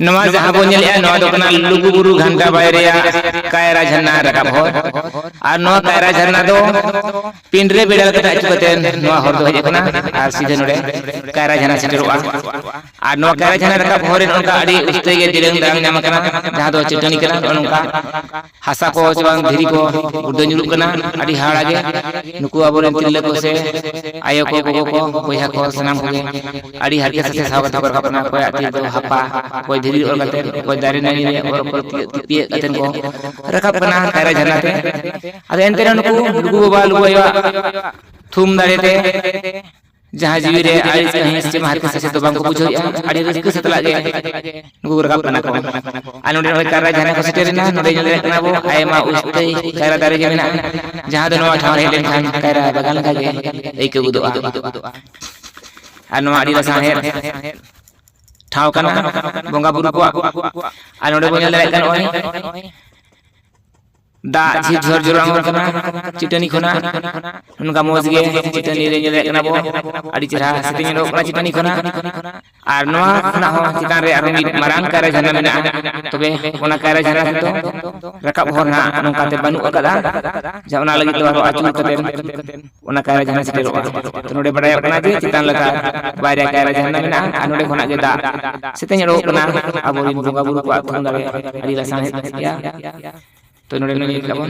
ᱱᱚᱣᱟ ᱡᱟᱦᱟᱸ ᱵᱚᱱ ᱧᱮᱞᱮᱜᱼᱟ ᱱᱚᱣᱟ ᱫᱚ ᱠᱟᱱᱟ ᱞᱩᱜᱩᱵᱩᱨᱩ ᱜᱷᱟᱱᱴᱟ ᱵᱟᱭ ᱨᱮᱭᱟᱜ ᱠᱟᱭᱨᱟ ᱡᱷᱟᱨᱱᱟ ᱨᱟᱠᱟᱵ ᱦᱚᱨ ᱟᱨ ᱱᱚᱣᱟ ᱠᱟᱭᱨᱟ ᱡᱷᱟᱨᱱᱟ ᱫᱚ ᱯᱤᱱᱰᱨᱮ ᱵᱮᱲᱟ ᱠᱟᱛᱮ ᱟᱹᱪᱩ ᱠᱟᱛᱮ ᱱᱚᱣᱟ ᱦᱚᱨ ᱫᱚ ᱦᱮᱡ ᱟᱠᱟᱱᱟ ᱟᱨ ᱥᱤᱫᱷᱟᱹ ᱱᱚᱰᱮ ᱠᱟᱭᱨᱟ ᱡᱷᱟᱨᱱᱟ ᱥᱮᱴᱮᱨᱚᱜᱼᱟ ᱟᱨ ᱱᱚᱣᱟ ᱠᱟᱭᱨᱟ ᱡᱷᱟᱨᱱᱟ ᱨᱟᱠᱟᱵ ᱦᱚᱨ ᱨᱮ ᱱᱚᱝᱠᱟ ᱟᱹᱰᱤ ᱩᱥᱛᱟᱹᱭ ᱜᱮ ᱫᱤᱨᱟᱹᱝ ᱫᱟᱨᱟᱝ ᱧᱟᱢ ᱟᱠᱟᱱᱟ ᱡᱟᱦᱟᱸ ᱫᱚ ᱪᱟᱹᱴᱟᱹᱱᱤ ᱠᱟᱱᱟ ᱱᱚᱜᱼᱚ ᱱᱚᱝᱠᱟ ᱦᱟᱥᱟ ᱠᱚ ᱪᱮ ᱵᱟᱝ ᱫᱷᱤᱨᱤ ᱠᱚ ᱜᱩᱲᱫᱟᱹ ᱧᱩᱨᱩᱜ ᱠᱟᱱᱟ ᱟᱹᱰᱤ ᱦᱟᱦᱟᱲᱟ ᱜᱮ ᱱᱩᱠᱩ ᱟᱵᱚᱨᱮᱱ ᱛᱤᱨᱞᱟᱹ ᱠᱚ ᱥᱮ ᱟᱭᱳ ᱠᱚ ᱜᱚᱜᱚ ᱠᱚ ᱵᱚᱭᱦᱟ ᱠᱚ ᱥᱟᱱᱟᱢ ᱠᱚᱜᱮ ᱟᱹᱰᱤ ᱦᱟᱨᱠᱮᱛ ᱥᱟᱥᱮᱛ ᱥᱟᱦᱟᱣ ᱠᱟᱛᱮ ᱠᱚ ᱨᱟᱠᱟᱵ ᱠᱟᱱᱟ ᱚᱠᱚᱭᱟᱜ ᱛᱤ ᱨᱮᱫᱚ ᱦᱟᱯᱟ ᱚᱠᱚᱭ ᱫᱷᱤᱨᱤ ᱨᱮ ᱚᱨ ᱠᱟᱛᱮ ᱚᱠᱚᱭ ᱫᱟᱨᱮ ᱱᱟᱹᱲᱤ ᱨᱮ ᱚᱨ ᱚᱯᱚᱨ ᱛᱤᱭᱟᱹᱜ ᱠᱟᱛᱮ ᱠᱚ ᱨᱟᱠᱟᱵ ᱠᱟᱱᱟ ᱠᱟᱭᱨᱟ ᱡᱷᱟᱨᱱᱟ ᱛᱮ ᱟᱫᱚ ᱮᱱᱛᱮ ᱨᱮᱦᱚᱸ ᱱᱩᱠᱩ ᱞᱩᱜᱩ ᱵᱟᱵᱟ ᱞᱩᱜᱩ ᱟᱭᱳᱣᱟᱜ ᱛᱷᱩᱢ ᱫᱟᱲᱮ ᱛᱮ ᱡᱟᱦᱟᱸ ᱡᱤᱣᱤ ᱨᱮ ᱟᱹᱲᱤᱥ ᱠᱟᱹᱦᱤᱥ ᱪᱮ ᱢᱟᱦᱟᱛ ᱥᱟᱥᱮᱛ ᱫᱚ ᱵᱟᱝ ᱠᱚ ᱵᱩᱡᱷᱟᱹᱣ ᱮᱫᱼᱟ ᱟᱹᱰᱤ ᱨᱟᱹᱥᱠᱟᱹ ᱥᱟᱛᱞᱟᱜ ᱜᱮ ᱱᱩᱠᱩ ᱨᱟᱠᱟᱵ ᱠᱟᱱᱟ ᱠᱚ ᱟᱨ ᱱᱚᱰᱮ ᱱᱚᱜᱼᱚᱭ ᱠᱟᱭᱨᱟ ᱡᱷᱟᱨᱱᱟ ᱠᱚ ᱥᱮᱴᱮᱨ ᱮᱱᱟ ᱱᱚᱰᱮ ᱧᱮᱞ ᱫᱟᱲᱮᱭᱟᱜ ᱠᱟᱱᱟ ᱵᱚ ᱟᱭᱢᱟ ᱩᱥᱛᱟᱹᱭ ᱠᱟᱭᱨᱟ ᱫᱟᱨᱮ ᱜᱮ ᱢᱮᱱᱟᱜᱼᱟ ᱡᱟᱦᱟᱸ ᱫᱚ ᱱᱚᱣᱟ ᱴᱷᱟᱶ ᱨᱮ ᱦᱮᱡ ᱞᱮᱱᱠᱷᱟᱱ ᱠᱟᱭᱨᱟ ᱵᱟᱜᱟᱱ ᱞᱮᱠᱟ ᱜᱮ ᱟᱹᱭᱠᱟᱹᱣ ᱜᱚᱫᱚᱜᱼᱟ ᱟᱨ ᱱᱚᱣᱟ ᱟᱹᱰᱤ ᱞᱟᱥᱟᱬᱦᱮᱫ ᱴᱷᱟᱶ ᱠᱟᱱᱟ ᱵᱚᱸᱜᱟ ᱵᱩᱨᱩ ᱠᱚᱣᱟᱜ ᱟᱨ ᱱᱚᱰᱮ ᱵᱚᱱ ᱧᱮᱞ ᱫᱟᱲᱮᱭᱟᱜ ᱠᱟᱱᱟ ᱱᱚᱜᱼᱚᱭ ᱫᱟᱜ ᱡᱷᱤᱨ ᱡᱷᱚᱨ ᱡᱚᱨᱚ ᱟᱬᱜᱚᱱ ᱠᱟᱱᱟ ᱪᱤᱴᱟᱹᱱᱤ ᱠᱷᱚᱱᱟᱜ ᱱᱚᱝᱠᱟ ᱢᱚᱡᱽ ᱜᱮ ᱪᱤᱴᱟᱹᱱᱤ ᱨᱮ ᱧᱮᱞᱮᱫ ᱠᱟᱱᱟ ᱵᱚ ᱟᱹᱰᱤ ᱪᱮᱦᱨᱟ ᱥᱤᱛᱤ ᱧᱮᱞᱚᱜ ᱠᱟᱱᱟ ᱪᱤᱴᱟᱹᱱᱤ ᱠᱷᱚᱱᱟᱜ ᱟᱨ ᱱᱚᱣᱟ ᱠᱷᱚᱱᱟᱜ ᱦᱚᱸ ᱪᱮᱛᱟᱱ ᱨᱮ ᱟᱨᱦᱚᱸ ᱢᱤᱫ ᱢᱟᱨᱟᱝ ᱠᱟᱭᱨᱟ ᱡᱷᱟᱨᱱᱟ ᱢᱮᱱᱟᱜᱼᱟ ᱛᱚᱵᱮ ᱚᱱᱟ ᱠᱟᱭᱨᱟ ᱡᱷᱟᱨᱱᱟ ᱛᱮᱫᱚ ᱨᱟᱠᱟᱵ ᱦᱚᱨ ᱱᱟᱜ ᱱᱚᱝᱠᱟᱛᱮ ᱵᱟᱹᱱᱩᱜ ᱟᱠᱟᱫᱟ ᱡᱟ ᱚᱱᱟ ᱞᱟᱹᱜᱤᱫ ᱫᱚ ᱟᱨᱦᱚᱸ ᱟᱹᱪᱩᱨ ᱠᱟᱛᱮ ᱚᱱᱟ ᱠᱟᱭᱨᱟ ᱡᱷᱟᱨᱱᱟ ᱥᱮᱴᱮᱨᱚᱜᱼᱟ ᱛᱚ ᱱᱚᱰᱮ ᱵᱟᱰᱟᱭᱚᱜ ᱠᱟᱱᱟ ᱡᱮ ᱪᱮᱛᱟᱱ ᱞᱟᱛᱟᱨ ᱵᱟᱨᱭᱟ ᱠᱟᱭᱨᱟ ᱡᱷᱟᱨᱱᱟ ᱢᱮᱱᱟᱜᱼᱟ ᱟᱨ ᱱᱚᱰᱮ ᱠᱷᱚᱱᱟᱜ ᱜᱮ ᱫᱟᱜ ᱥᱮᱛᱮᱧ ᱚᱰᱚᱠᱚᱜ ᱠᱟᱱᱟ ᱟᱵᱚᱨᱮᱱ ᱵᱚᱸᱜᱟ ᱵᱩᱨᱩ ᱠᱚᱣᱟᱜ ᱛᱷᱩᱢ ᱫᱟᱲᱮ ᱟᱹᱰᱤ ᱞᱟᱥᱟᱬᱦᱮᱫ ᱜᱮᱭᱟ ᱛᱚ ᱱᱚᱰᱮ ᱱᱚᱰᱮ ᱧᱮᱞ ᱛᱟᱵᱚᱱ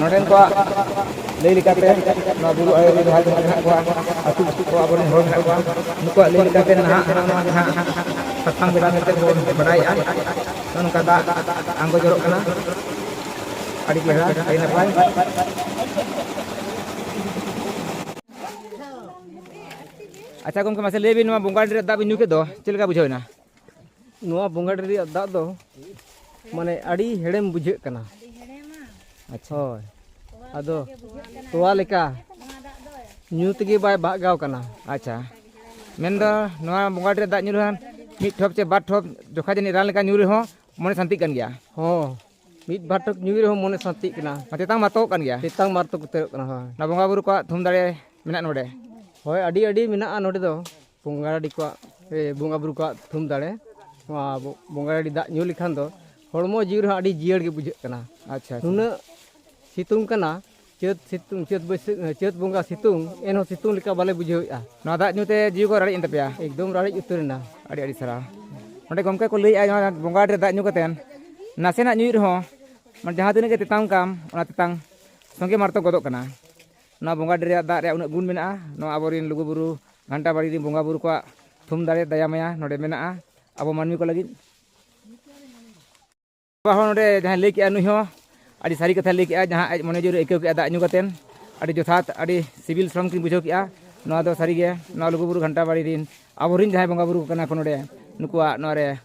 ᱱᱚᱰᱮᱱ ᱠᱚᱣᱟᱜ ᱞᱟᱹᱭ ᱞᱮᱠᱟᱛᱮ ᱱᱚᱣᱟ ᱵᱩᱨᱩ ᱟᱲᱮ ᱨᱮ ᱡᱟᱦᱟᱸ ᱛᱤᱱᱟᱹᱜ ᱢᱮᱱᱟᱜ ᱠᱚᱣᱟ ᱟᱹᱛᱩ ᱟᱹᱛᱩ ᱠᱚ ᱟᱵᱚᱨᱮᱱ ᱦᱚᱲ ᱢᱮᱱᱟᱜ ᱠᱚᱣᱟ ᱱᱩᱠᱩᱣᱟᱜ ᱞᱟᱹᱭ ᱞᱮᱠᱟᱛᱮ ᱱᱟᱦᱟᱜ ᱱᱚᱣᱟ ᱡᱟᱦᱟᱸ ᱥᱟᱥᱟᱝ ᱵᱮᱰᱟ ᱢᱮᱱᱛᱮ ᱵᱚᱱ ᱵᱟᱰᱟᱭᱮᱜᱼᱟ ᱱᱚᱜᱼᱚ ᱱᱚᱝᱠᱟ ᱫᱟᱜ ᱟᱬᱜᱚ ᱡᱚᱨᱚᱜ ᱠᱟᱱᱟ ᱟᱹᱰᱤ ᱪᱮᱦᱨᱟ ᱟᱹᱰᱤ ᱱᱟᱯᱟᱭ ᱟᱪᱪᱷᱟ ᱜᱚᱢᱠᱮ ᱢᱟᱥᱮ ᱞᱟᱹᱭ ᱵᱤᱱ ᱱᱚᱣᱟ ᱵᱚᱸᱜᱟ ᱰᱟᱹᱰᱤ ᱨᱮᱭᱟᱜ ᱫᱟᱜ ᱵᱤᱱ ᱧᱩ ᱠᱮᱫ ᱫᱚ ᱪᱮᱫ ᱞᱮᱠᱟ ᱵᱩᱡᱷᱟᱹᱣ ᱮᱱᱟ ᱱᱚᱣᱟ ᱵᱚᱸᱜᱟᱰᱤ ᱨᱮᱭᱟᱜ ᱫᱟᱜ ᱫᱚ ᱢᱟᱱᱮ ᱟᱹᱰᱤ ᱦᱮᱲᱮᱢ ᱵᱩᱡᱷᱟᱹᱜ ᱠᱟᱱᱟ ᱟᱪᱪᱷᱟ ᱦᱳᱭ ᱟᱫᱚ ᱛᱚᱣᱟ ᱞᱮᱠᱟ ᱧᱩ ᱛᱮᱜᱮ ᱵᱟᱭ ᱵᱟᱜᱟᱣ ᱠᱟᱱᱟ ᱟᱪᱪᱷᱟ ᱢᱮᱱᱫᱚ ᱱᱚᱣᱟ ᱵᱚᱸᱜᱟᱰᱤ ᱨᱮ ᱫᱟᱜ ᱧᱩ ᱨᱮᱦᱚᱸ ᱢᱤᱫ ᱴᱷᱚᱯ ᱪᱮ ᱵᱟᱨ ᱴᱷᱚᱯ ᱡᱚᱠᱷᱟ ᱡᱟᱹᱱᱤᱡ ᱨᱟᱱ ᱞᱮᱠᱟ ᱧᱩ ᱨᱮᱦᱚᱸ ᱢᱚᱱᱮ ᱥᱟᱱᱛᱤᱜ ᱠᱟᱱ ᱜᱮᱭᱟ ᱦᱚᱸ ᱢᱤᱫ ᱵᱟᱨ ᱴᱷᱚᱯ ᱧᱩ ᱨᱮᱦᱚᱸ ᱢᱚᱱᱮ ᱥᱟᱱᱛᱤᱜ ᱠᱟᱱᱟ ᱛᱮᱛᱟᱝ ᱢᱟᱛᱚᱜ ᱠᱟᱱ ᱜᱮᱭᱟ ᱛᱮᱛᱟᱝ ᱢᱟᱨᱛᱚ ᱩᱛᱟᱹᱨᱚᱜ ᱠᱟᱱᱟ ᱦᱳᱭ ᱱᱚᱣᱟ ᱵᱚᱸᱜᱟ ᱵᱩᱨᱩ ᱠᱚᱣᱟᱜ ᱛᱷᱩᱢ ᱫᱟᱲᱮ ᱢᱮᱱᱟᱜ ᱱᱚᱰᱮ ᱦᱳᱭ ᱟᱹᱰᱤ ᱟᱹᱰᱤ ᱢᱮᱱᱟᱜᱼᱟ ᱱᱚᱰᱮ ᱫᱚ ᱵᱚᱸᱜᱟ ᱰᱟᱹᱰᱤ ᱠᱚᱣᱟᱜ ᱵᱚᱸᱜᱟ ᱵᱩᱨᱩ ᱠᱚᱣᱟᱜ ᱛᱷᱩᱢ ᱫᱟᱲᱮ ᱱᱚᱣᱟ ᱵᱚᱸᱜᱟ ᱰᱟᱹᱰᱤ ᱫᱟᱜ ᱧᱩ ᱞᱮᱠᱷᱟᱱ ᱫᱚ ᱦᱚᱲᱢᱚ ᱡᱤᱣᱤ ᱨᱮᱦᱚᱸ ᱟᱹᱰᱤ ᱡᱤᱭᱟᱹᱲ ᱜᱮ ᱵᱩᱡᱷᱟᱹᱜ ᱠᱟᱱᱟ ᱟᱪᱪᱷᱟ ᱱᱩᱱᱟᱹᱜ ᱥᱤᱛᱩᱝ ᱠᱟᱱᱟ ᱪᱟᱹᱛ ᱥᱤᱛᱩᱝ ᱪᱟᱹᱛ ᱵᱟᱹᱭᱥᱟᱹᱠᱷ ᱪᱟᱹᱛ ᱵᱚᱸᱜᱟ ᱥᱤᱛᱩᱝ ᱮᱱᱦᱚᱸ ᱥᱤᱛᱩᱝ ᱞᱮᱠᱟ ᱵᱟᱞᱮ ᱵᱩᱡᱷᱟᱹᱣᱮᱫᱼᱟ ᱱᱚᱣᱟ ᱫᱟᱜ ᱧᱩᱛᱮ ᱡᱤᱣᱤ ᱠᱚ ᱨᱟᱲᱮᱡ ᱮᱱ ᱛᱟᱯᱮᱭᱟ ᱮᱠᱫᱚᱢ ᱨᱟᱲᱮᱡ ᱩᱛᱟᱹᱨ ᱮᱱᱟ ᱟᱹᱰᱤ ᱟᱹᱰᱤ ᱥᱟᱨᱦᱟᱣ ᱚᱸᱰᱮ ᱜᱚᱢᱠᱮ ᱠᱚ ᱞᱟᱹᱭᱮᱫᱼᱟ ᱱᱚᱣᱟ ᱵᱚᱸᱜᱟ ᱰᱟᱹᱰᱤ ᱨᱮ ᱫᱟᱜ ᱧᱩ ᱠᱟᱛᱮ ᱱᱟᱥᱮᱱᱟᱜ ᱧᱩᱭᱮᱫ ᱨᱮᱦᱚᱸ ᱢᱟᱱᱮ ᱡᱟᱦᱟᱸ ᱛᱤᱱᱟᱹᱜ ᱜᱮ ᱛᱮᱛᱟᱝ ᱠᱟᱱ ᱚᱱᱟ ᱛᱮᱛᱟᱝ ᱥᱚᱸᱜᱮ ᱢᱟᱨᱛᱚᱠ ᱜᱚᱫᱚᱜ ᱠᱟᱱᱟ ᱱᱚᱣᱟ ᱵᱚᱸᱜᱟ ᱰᱮᱨ ᱨᱮᱭᱟᱜ ᱫᱟᱜ ᱨᱮᱭᱟᱜ ᱩᱱᱟᱹᱜ ᱜᱩᱱ ᱢᱮᱱᱟᱜᱼᱟ ᱱᱚᱣᱟ ᱟᱵᱚᱨᱤᱱ ᱞᱩᱜᱩ ᱵᱩᱨᱩ ᱜᱷᱟᱱᱴᱟ ᱵᱟᱲᱤ ᱨᱤᱱ ᱵᱚᱸᱜᱟ ᱵᱩᱨᱩ ᱠᱚᱣᱟᱜ ᱛᱷᱩᱢ ᱫᱟᱲᱮ ᱫᱟᱭᱟ ᱢᱟᱭᱟ ᱱᱚᱰᱮ ᱢᱮᱱᱟᱜᱼᱟ ᱟᱵᱚ ᱢᱟᱹᱱᱢᱤ ᱠᱚ ᱞᱟᱹᱜᱤᱫ ᱵᱟᱵᱟ ᱦᱚᱸ ᱱᱚᱰᱮ ᱡᱟᱦᱟᱸᱭ ᱞᱟᱹᱭ ᱠᱮᱜᱼᱟ ᱱᱩᱭ ᱦᱚᱸ ᱟᱹᱰᱤ ᱥᱟᱹᱨᱤ ᱠᱟᱛᱷᱟᱭ ᱞᱟᱹᱭ ᱠᱮᱜᱼᱟ ᱡᱟᱦᱟᱸ ᱟᱡ ᱢᱚᱱᱮ ᱡᱤᱣᱤ ᱨᱮ ᱟᱹᱭᱠᱟᱹᱣ ᱠᱮᱜᱼᱟ ᱫᱟᱜ ᱧᱩ ᱠᱟᱛᱮᱱ ᱟᱹᱰᱤ ᱡᱚᱛᱷᱟᱛ ᱟᱹᱰᱤ ᱥᱤᱵᱤᱞ ᱥᱚᱲᱚᱢ ᱠᱤᱱ ᱵᱩᱡᱷᱟᱹᱣ ᱠᱮᱜᱼᱟ ᱱᱚᱣᱟ ᱫᱚ ᱥᱟᱹᱨᱤᱜᱮ ᱱᱚᱣᱟ ᱞᱩᱜᱩ ᱵᱩᱨᱩ ᱜᱷᱟᱱᱴᱟ ᱵᱟᱲᱤ ᱨᱤᱱ ᱟᱵᱚᱨᱤᱱ ᱡᱟᱦᱟᱸᱭ ᱵᱚᱸᱜᱟ ᱵᱩᱨᱩ ᱠᱟᱱᱟ ᱠᱚ ᱱᱚᱰᱮ ᱱᱩᱠᱩᱣᱟᱜ ᱱᱚᱣᱟ ᱨᱮ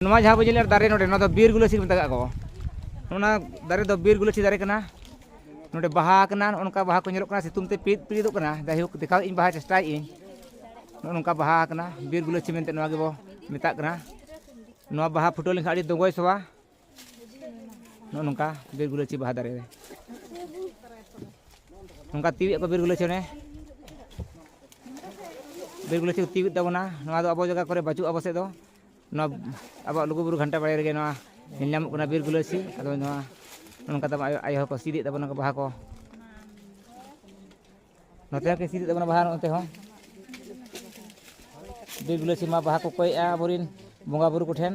ᱱᱚᱣᱟ ᱡᱟᱦᱟᱸ ᱵᱚ ᱧᱮᱞᱮᱫ ᱫᱟᱨᱮ ᱱᱚᱰᱮ ᱱᱚᱣᱟ ᱫᱚ ᱵᱤᱨ ᱜᱩᱞᱟᱹᱪᱤ ᱠᱚ ᱢᱮᱛᱟᱜ ᱠᱚ ᱚᱱᱟ ᱫᱟᱨᱮ ᱫᱚ ᱵᱤᱨ ᱜᱩᱞᱟᱹᱪᱤ ᱫᱟᱨᱮ ᱠᱟᱱᱟ ᱱᱚᱰᱮ ᱵᱟᱦᱟ ᱠᱟᱱᱟ ᱱᱚᱝᱠᱟ ᱵᱟᱦᱟ ᱠᱚ ᱧᱮᱞᱚᱜ ᱠᱟᱱᱟ ᱥᱤᱛᱩᱝ ᱛᱮ ᱯᱤᱫ ᱯᱤᱫᱚᱜ ᱠᱟᱱᱟ ᱡᱟᱭᱦᱳᱠ ᱫᱮᱠᱷᱟᱣ ᱤᱧ ᱵᱟᱦᱟ ᱪᱮᱥᱴᱟᱭᱮᱫ ᱤᱧ ᱱᱚᱜᱼᱚ ᱱᱚᱝᱠᱟ ᱵᱟᱦᱟ ᱠᱟᱱᱟ ᱵᱤᱨ ᱜᱩᱞᱟᱹᱪᱤ ᱢᱮᱱᱛᱮ ᱱᱚᱣᱟ ᱜᱮᱵᱚ ᱢᱮᱛᱟᱜ ᱠᱟᱱᱟ ᱱᱚᱣᱟ ᱵᱟᱦᱟ ᱯᱷᱩᱴᱟᱹᱣ ᱞᱮᱱᱠᱷᱟᱱ ᱟᱹᱰᱤ ᱫᱚᱜᱚᱭ ᱥᱚᱣᱟ ᱱᱚᱜᱼᱚ ᱱᱚᱝᱠᱟ ᱵᱤᱨ ᱜᱩᱞᱟᱹᱪᱤ ᱵᱟᱦᱟ ᱫᱟᱨᱮ ᱨᱮ ᱱᱚᱝᱠᱟ ᱛᱤᱣᱮᱫ ᱠᱚ ᱵᱤᱨ ᱜᱩᱞᱟᱹᱪᱤ ᱚᱱᱮ ᱵᱤᱨ ᱜᱩᱞᱟᱹᱪᱤ ᱠᱚ ᱛᱤᱣᱮᱫ ᱛᱟᱵᱚᱱᱟ ᱱᱚᱣᱟ ᱫᱚ ᱟᱵᱚ ᱡᱟᱭᱜᱟ ᱠᱚᱨᱮ ᱵᱟᱹᱪᱩᱜᱼᱟ ᱟᱵᱚ ᱥᱮᱫ ᱫᱚ ᱱᱚᱣᱟ ᱟᱵᱚᱣᱟᱜ ᱞᱩᱜᱩᱵᱩᱨᱩ ᱜᱷᱟᱱᱴᱟ ᱵᱟᱲᱮ ᱨᱮᱜᱮ ᱱᱚᱣᱟ ᱧᱮᱞ ᱧᱟᱢᱚᱜ ᱠᱟᱱᱟ ᱵᱤᱨ ᱜᱩᱞᱟᱹᱪᱤ ᱟᱫᱚ ᱱᱚᱣᱟ ᱱᱚᱝᱠᱟ ᱛᱟᱵᱚᱱ ᱟᱭᱳ ᱟᱭᱳ ᱦᱚᱸᱠᱚ ᱥᱤᱫᱮᱫ ᱛᱟᱵᱚᱱᱟ ᱵᱟᱦᱟ ᱠᱚ ᱱᱚᱛᱮ ᱦᱚᱸ ᱠᱤᱱ ᱥᱤᱫᱮᱫ ᱛᱟᱵᱚᱱᱟ ᱵᱟᱦᱟ ᱱᱚᱛᱮ ᱦᱚᱸ ᱵᱤᱨ ᱜᱩᱞᱟᱹᱪᱤ ᱢᱟ ᱵᱟᱦᱟ ᱠᱚ ᱠᱚᱭᱮᱜᱼᱟ ᱟᱵᱚᱨᱮᱱ ᱵᱚᱸᱜᱟ ᱵᱩᱨᱩ ᱠᱚᱴᱷᱮᱱ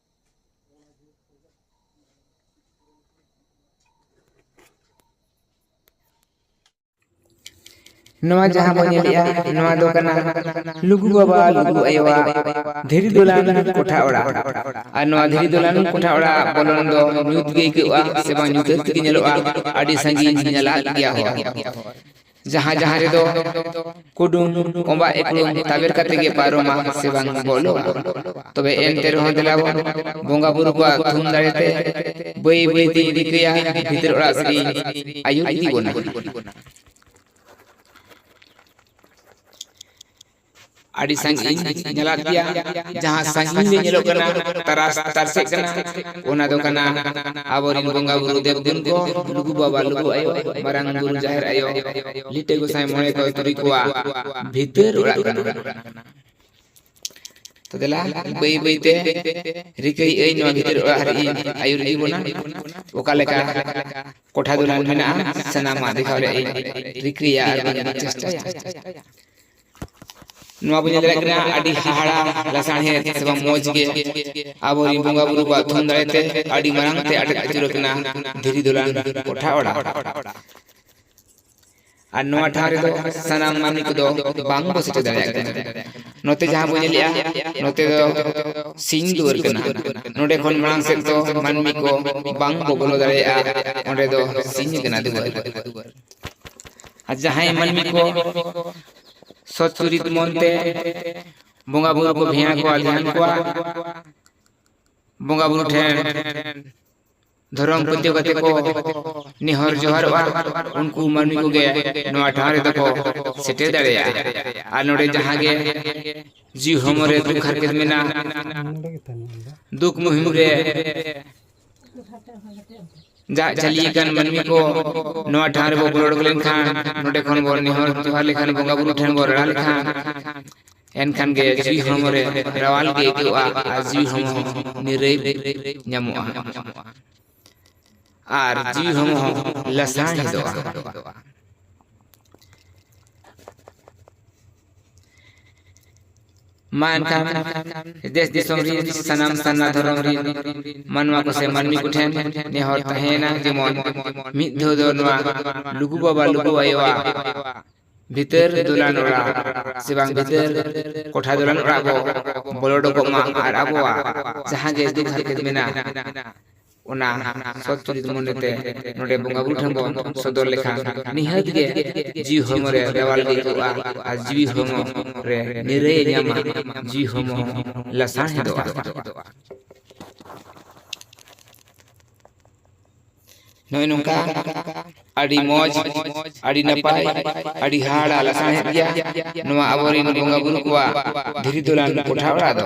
ᱱᱚᱣᱟ ᱡᱟᱦᱟᱸ ᱵᱚᱱ ᱧᱮᱞᱮᱜᱼᱟ ᱱᱚᱣᱟ ᱫᱚ ᱠᱟᱱᱟ ᱞᱩᱜᱩ ᱵᱟᱵᱟ ᱞᱩᱜᱩ ᱟᱭᱳᱣᱟᱜ ᱫᱷᱤᱨᱤ ᱫᱚᱞᱟᱱ ᱠᱚᱴᱷᱟ ᱚᱲᱟᱜ ᱟᱨ ᱱᱚᱣᱟ ᱫᱷᱤᱨᱤ ᱫᱚᱞᱟᱱ ᱠᱚᱴᱷᱟ ᱚᱲᱟᱜ ᱵᱚᱞᱚᱱ ᱫᱚ ᱧᱩᱛ ᱜᱮ ᱟᱹᱭᱠᱟᱹᱜᱼᱟ ᱥᱮ ᱵᱟᱝ ᱧᱩᱛᱟᱹᱛ ᱜᱮ ᱧᱮᱞᱚᱜᱼᱟ ᱟᱹᱰᱤ ᱥᱟᱺᱜᱤᱧ ᱧᱮᱞᱟᱜ ᱜᱮᱭᱟ ᱦᱚᱲ ᱡᱟᱦᱟᱸ ᱡᱟᱦᱟᱸ ᱨᱮᱫᱚ ᱠᱩᱰᱩᱢ ᱚᱢᱵᱟ ᱮᱠᱞᱩᱢ ᱛᱟᱵᱮᱨ ᱠᱟᱛᱮ ᱜᱮ ᱯᱟᱨᱚᱢᱟ ᱥᱮ ᱵᱟᱝ ᱵᱚᱞᱚᱜᱼᱟ ᱛᱚᱵᱮ ᱮᱱᱛᱮ ᱨᱮᱦᱚᱸ ᱫᱮᱞᱟ ᱵᱚᱱ ᱵᱚᱸᱜᱟ ᱵᱩᱨᱩ ᱠᱚᱣᱟᱜ ᱛᱷᱩᱢ ᱫᱟᱲᱮ ᱛᱮ ᱵᱟᱹᱭ ᱵᱟᱹᱭ ᱛᱮᱧ ᱨᱤᱠᱟᱹᱭᱟ ᱵᱷᱤᱛᱤᱨ ᱚᱲᱟᱜ ᱥᱮᱫ ᱤᱧ ᱟᱹᱭᱩᱨ ᱤᱫᱤ ᱵᱚᱱᱟ ᱟᱹᱰᱤ ᱥᱟᱺᱜᱤᱧ ᱧᱮᱞᱚᱜ ᱜᱮᱭᱟ ᱡᱟᱦᱟᱸ ᱥᱟᱺᱜᱤᱧ ᱨᱮ ᱧᱮᱞᱚᱜ ᱠᱟᱱᱟ ᱛᱟᱨᱟᱥ ᱛᱟᱨᱥᱮᱜ ᱠᱟᱱᱟ ᱚᱱᱟ ᱫᱚ ᱠᱟᱱᱟ ᱟᱵᱚᱨᱮᱱ ᱵᱚᱸᱜᱟ ᱵᱩᱨᱩ ᱫᱮᱵ ᱫᱮᱵ ᱠᱚ ᱞᱩᱜᱩ ᱵᱟᱵᱟ ᱞᱩᱜᱩ ᱟᱭᱳ ᱢᱟᱨᱟᱝ ᱵᱩᱨᱩ ᱡᱟᱦᱮᱨ ᱟᱭᱳ ᱞᱤᱴᱟᱹ ᱜᱚᱸᱥᱟᱭ ᱢᱚᱬᱮ ᱠᱚ ᱛᱩᱨᱩᱭ ᱠᱚᱣᱟᱜ ᱵᱷᱤᱛᱟᱹᱨ ᱚᱲᱟᱜ ᱠᱟᱱᱟ ᱛᱚ ᱫᱮᱞᱟ ᱵᱟᱹᱭ ᱵᱟᱹᱭ ᱛᱮ ᱨᱤᱠᱟᱹᱭ ᱟᱹᱧ ᱱᱚᱣᱟ ᱵᱷᱤᱛᱟᱹᱨ ᱚᱲᱟᱜ ᱨᱮ ᱟᱹᱭᱩᱨ ᱤᱫᱤ ᱵᱚᱱᱟ ᱚᱠᱟ ᱞᱮᱠᱟ ᱠᱚᱴᱷᱟ ᱫᱩᱞᱟᱱ ᱢᱮᱱᱟᱜᱼᱟ ᱥᱟᱱᱟᱢᱟᱜ ᱫᱮᱠᱷᱟᱣ ᱨᱮᱭᱟᱜ ᱨᱤᱠᱟᱹᱭᱟ ᱟᱨ ᱪᱮᱥᱴᱟᱭᱟ ᱱᱚᱣᱟ ᱵᱚᱱ ᱧᱮᱞ ᱫᱟᱲᱮᱭᱟᱜ ᱠᱟᱱᱟ ᱟᱹᱰᱤ ᱦᱟᱦᱟᱲᱟ ᱞᱟᱥᱟᱬᱦᱮᱫ ᱥᱮ ᱵᱟᱝ ᱢᱚᱡᱽ ᱜᱮ ᱟᱵᱚ ᱨᱮᱱ ᱵᱚᱸᱜᱟ ᱵᱩᱨᱩ ᱠᱚᱣᱟᱜ ᱛᱷᱩᱢ ᱫᱟᱲᱮ ᱛᱮ ᱟᱹᱰᱤ ᱢᱟᱨᱟᱝ ᱛᱮ ᱟᱴᱮᱫ ᱟᱹᱪᱩᱨ ᱟᱠᱟᱱᱟ ᱫᱷᱤᱨᱤ ᱫᱚᱞᱟᱱ ᱠᱚᱴᱷᱟ ᱚᱲᱟᱜ ᱟᱨ ᱱᱚᱣᱟ ᱴᱷᱟᱶ ᱨᱮᱫᱚ ᱥᱟᱱᱟᱢ ᱢᱟᱹᱱᱢᱤ ᱠᱚᱫᱚ ᱵᱟᱝ ᱵᱚ ᱥᱮᱴᱮᱨ ᱫᱟᱲᱮᱭᱟᱜ ᱠᱟᱱᱟ ᱱᱚᱛᱮ ᱡᱟᱦᱟᱸ ᱵᱚ ᱧᱮᱞᱮᱜᱼᱟ ᱱᱚᱛᱮ ᱫᱚ ᱥᱤᱧ ᱫᱩᱣᱟᱹᱨ ᱠᱟᱱᱟ ᱱᱚᱰᱮ ᱠᱷᱚᱱ ᱢᱟᱲᱟᱝ ᱥᱮᱫ ᱫᱚ ᱢᱟᱹᱱᱢᱤ ᱠᱚ ᱵᱟᱝ ᱵᱚ ᱵᱚᱞᱚ ᱫᱟᱲᱮᱭᱟᱜᱼᱟ ᱚᱸᱰᱮ ᱫᱚ ᱥᱤᱧ ᱠᱟᱱᱟ ᱫᱩᱣᱟᱹᱨ ᱟᱨ ᱡᱟᱦᱟᱸᱭ ᱢᱟᱹᱱᱢᱤ ᱠᱚ ᱥᱚᱛ ᱪᱩᱨᱤᱛ ᱢᱚᱱᱛᱮ ᱵᱚᱸᱜᱟ ᱵᱩᱨᱩ ᱠᱚ ᱵᱷᱮᱭᱟ ᱠᱚᱣᱟ ᱫᱷᱮᱭᱟᱱ ᱠᱚᱣᱟ ᱵᱚᱸᱜᱟ ᱵᱩᱨᱩ ᱴᱷᱮᱱ ᱫᱷᱚᱨᱚᱢ ᱯᱟᱹᱛᱭᱟᱹᱣ ᱠᱟᱛᱮ ᱠᱚ ᱱᱮᱦᱚᱨ ᱡᱚᱦᱟᱨᱚᱜᱼᱟ ᱩᱱᱠᱩ ᱢᱟᱹᱱᱢᱤ ᱠᱚᱜᱮ ᱱᱚᱣᱟ ᱴᱷᱟᱶ ᱨᱮᱫᱚ ᱠᱚ ᱥᱮᱴᱮᱨ ᱫᱟᱲᱮᱭᱟᱜᱼᱟ ᱟᱨ ᱱᱚᱰᱮ ᱡᱟᱦᱟᱸ ᱜᱮ ᱡᱤᱣᱤ ᱦᱚᱲᱢᱚ ᱨᱮ ᱫᱩᱠ ᱦᱟᱨᱠᱮᱛ ᱢᱮᱱᱟᱜᱼᱟ ᱫᱩᱠ ᱢᱩᱦᱤᱢ ᱨᱮ ᱫᱟᱜ ᱡᱟᱹᱞᱤ ᱟᱠᱟᱱ ᱢᱟᱹᱱᱢᱤ ᱠᱚ ᱱᱚᱣᱟ ᱴᱷᱟᱶ ᱨᱮᱵᱚ ᱵᱚᱞᱚ ᱩᱰᱩᱠ ᱞᱮᱱᱠᱷᱟᱱ ᱱᱚᱰᱮ ᱠᱷᱚᱱ ᱵᱚᱱ ᱱᱮᱦᱚᱨ ᱡᱚᱦᱟᱨ ᱞᱮᱠᱷᱟᱱ ᱵᱚᱸᱜᱟ ᱵᱩᱨᱩ ᱴᱷᱮᱱ ᱵᱚᱱ ᱨᱟᱲᱟ ᱞᱮᱠᱷᱟᱱ ᱮᱱᱠᱷᱟᱱ ᱜᱮ ᱡᱤᱣᱤ ᱦᱚᱲᱢᱚ ᱨᱮ ᱨᱟᱣᱟᱞ ᱜᱮ ᱟᱹᱭᱠᱟᱹᱜᱼᱟ ᱟᱨ ᱡᱤᱣᱤ ᱦᱚᱲᱢᱚ ᱱᱤᱨᱟᱹᱭ ᱧᱟᱢᱚᱜᱼᱟ ᱟᱨ ᱡᱤᱣᱤ ᱦᱚᱲᱢᱚ ᱦᱚᱸ ᱞᱟᱥᱟᱝ ᱦᱮᱫᱚᱜᱼᱟ ᱢᱟ ᱮᱱᱠᱷᱟᱱ ᱫᱮᱥ ᱫᱤᱥᱚᱢ ᱨᱤᱱ ᱥᱟᱱᱟᱢ ᱥᱟᱨᱱᱟ ᱫᱷᱚᱨᱚᱢ ᱨᱤᱱ ᱢᱟᱱᱣᱟ ᱠᱚ ᱥᱮ ᱢᱟᱹᱱᱢᱤ ᱠᱚᱴᱷᱮᱱ ᱱᱮᱦᱚᱨ ᱛᱟᱦᱮᱸᱭᱮᱱᱟ ᱡᱮᱢᱚᱱ ᱢᱤᱫ ᱫᱷᱟᱣ ᱫᱚ ᱱᱚᱣᱟ ᱞᱩᱜᱩ ᱵᱟᱵᱟ ᱞᱩᱜᱩ ᱟᱭᱳᱣᱟᱜ ᱵᱷᱤᱛᱟᱹᱨ ᱫᱚᱞᱟᱱ ᱚᱲᱟᱜ ᱥᱮ ᱵᱟᱝ ᱵᱷᱤᱛᱟᱹᱨ ᱠᱚᱴᱷᱟ ᱫᱚᱞᱟᱱ ᱚᱲᱟᱜ ᱵᱚ ᱵᱚᱞᱚ ᱚᱰᱚᱠᱚᱜ ᱢᱟ ᱟᱨ ᱟᱵᱚᱣᱟᱜ ᱡᱟᱦᱟᱸ ᱜᱮ ᱫᱩᱠ ᱦᱟᱨᱠᱮᱛ ᱢᱮᱱᱟᱜ ᱚᱱᱟ ᱥᱚᱛ ᱪᱩᱨᱤᱛ ᱢᱚᱱᱮ ᱛᱮ ᱱᱚᱰᱮ ᱵᱚᱸᱜᱟ ᱵᱩᱨᱩ ᱴᱷᱮᱱ ᱵᱚᱱ ᱥᱚᱫᱚᱨ ᱞᱮᱠᱷᱟᱱ ᱱᱤᱦᱟᱹᱛ ᱜᱮ ᱡᱤᱣᱤ ᱦᱚᱲᱢᱚ ᱨᱮ ᱨᱮᱣᱟᱞ ᱜᱮ ᱟᱹᱭᱠᱟᱹᱜᱼᱟ ᱟᱨ ᱡᱤᱣᱤ ᱦᱚᱲᱢᱚ ᱨᱮ ᱱᱤᱨᱟᱹᱭ ᱮ ᱧᱟᱢᱟ ᱡᱤᱣᱤ ᱦᱚᱲᱢᱚ ᱦᱚᱸ ᱞᱟᱥᱟᱬᱦᱮᱫᱚᱜᱼᱟ᱾ ᱱᱚᱜᱼᱚᱭ ᱱᱚᱝᱠᱟ ᱟᱹᱰᱤ ᱢᱚᱡᱽ ᱟᱹᱰᱤ ᱱᱟᱯᱟᱭ ᱟᱹᱰᱤ ᱦᱟᱦᱟᱲᱟ ᱞᱟᱥᱟᱬᱦᱮᱫ ᱜᱮᱭᱟ ᱱᱚᱣᱟ ᱟᱵᱚ ᱨᱮᱱ ᱵᱚᱸᱜᱟ ᱵᱩᱨᱩ ᱠᱚᱣᱟᱜ ᱫᱷᱤᱨᱤ ᱫᱚᱞᱟᱱ ᱠᱚᱴᱷᱟ ᱚᱲᱟᱜ ᱫᱚ᱾